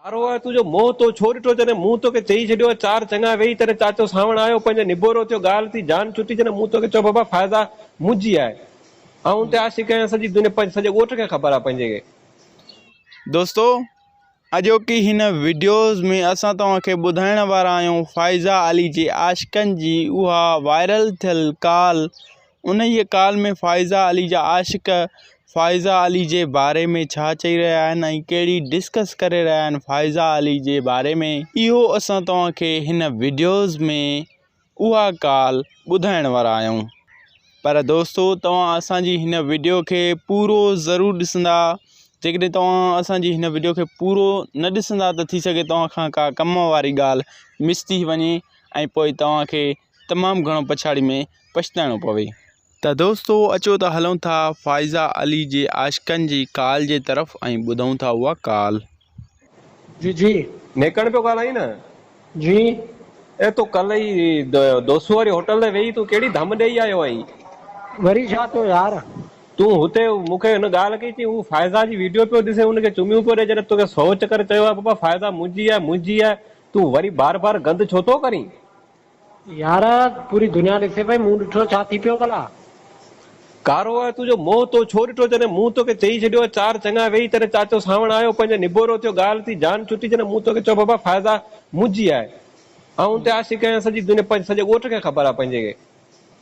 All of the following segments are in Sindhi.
ڪارو آء تنهنجو منهن تو ڇو ڏٺو جڏهن مون توکي چئي ڇڏيو هو چار چڱا ويهي تڏهن چاچو سانوڻ آيو پنهنجو نبورو ٿيو ڳالهه ٿي جان ڇٽي جڏهن مون توکي چيو بابا فائزه منهنجي آهي آئون ان تي عاشق آهيان سڄي دنيا پنهنجي سڄي ڳوٺ کي خبر آهي پنهنجي کي دوستو اڄوڪي هن وڊيوز ۾ اسان توهان کي ٻڌائڻ وارا آهيون فائزه علي جي عاشقن جي اها وائرل ٿيل ڪال انهيء ڪال ۾ فائزه علي جا عاشق فائزه علي جي باري ۾ ڇا چئي رهيا آهن ۽ ڪهڙي ڊسڪس ڪري رهيا آهن فائزه علي جي باري ۾ اهو اسان توهان کي هن وڊيوز ۾ اها ڪال ٻڌائڻ وارا آهيون پر دوستو توهان اسان جي هن وڊيو کي پورو ضرور ڏسندا جيڪڏهن توهان اسان جي هن وڊيو کي پورو نه ڏسندا ته ٿي سگهي توهان کان ڪا ڪم واري ڳالهه مس ٿي وڃي ۽ پوء توهان کي تمام گهڻو پڇاڙي ۾ پڇتائڻو پوي. ته دوستو اچو ته هلون ٿا فائزه علي جي عاشقن جي ڪال جي طرف ۽ ٻڌون ٿا اها ڪال. جي جي. نيڪڻ پيو ڳالهائين نه. جي. اي تو ڪلهه ئي دوسو واري هوٽل تي ويهي تون ڪهڙي ڌم ڏيئي آيو آهين. وري ڇا ٿيو يار. تون هتي مون کي هن ڳالهه ڪئي چئين هو فائزه جي ويڊيو پيو ڏسي ان کي چميون پيو ڏئي جڏهن توکي سو چڪر چيو آهي بابا فائزه منهنجي آهي منهنجي آهي تون وري بار بار گند ڇو ٿو ڪرين. يار پوري دنيا ڏسي پئي مون ڏٺو ڇا ٿي پيو ڀلا. ڪارو آء تنهنجو منهن تو ڇو ڏٺو جڏهن مون توکي چئي ڇڏيو چار چڱا ويئي تڏهن چاچو سانوڻ آيو پنهنجو نبورو ٿيو ڳالهه ٿي جان ڇٽي جڏهن مون توکي چيو بابا فائزه منهنجي آهي آئون ان تي عاشق آهيان سڄي دنيا پنهنجي سڄي ڳوٺ کي خبر آهي پنهنجي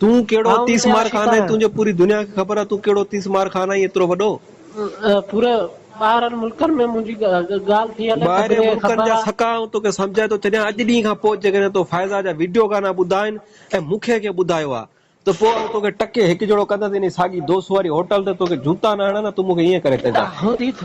تون ڪهڙو آئون تيس ڏسي مار عاشق خان آهين آهيان. تنهنجو پوري دنيا کي خبر آهي تون ڪهڙو تيس مار خان آهين ايترو وڏو. پوري ٻاهرن ملڪن ۾ منهنجي ڳالهه ٿي هلي ٻاهرين سڀني کي ملڪن خبر جا آ. سڪا آئون توکي سمجهائي ٿو ڇڏيان اڄ ڏينهن کان پوء جيڪڏهن تو فائزه جا وڊيو گانا ٻڌا آهن ۽ مون کي ڪنهن ٻڌايو آ ته پوء آئون توکي ٽڪي هڪ جهڙو ڪندس انهي ساڳي دوس واري هوٽل تي توکي جوتا نه هڻان ها تون مون کي ائين ڪري ڪجان. هوندي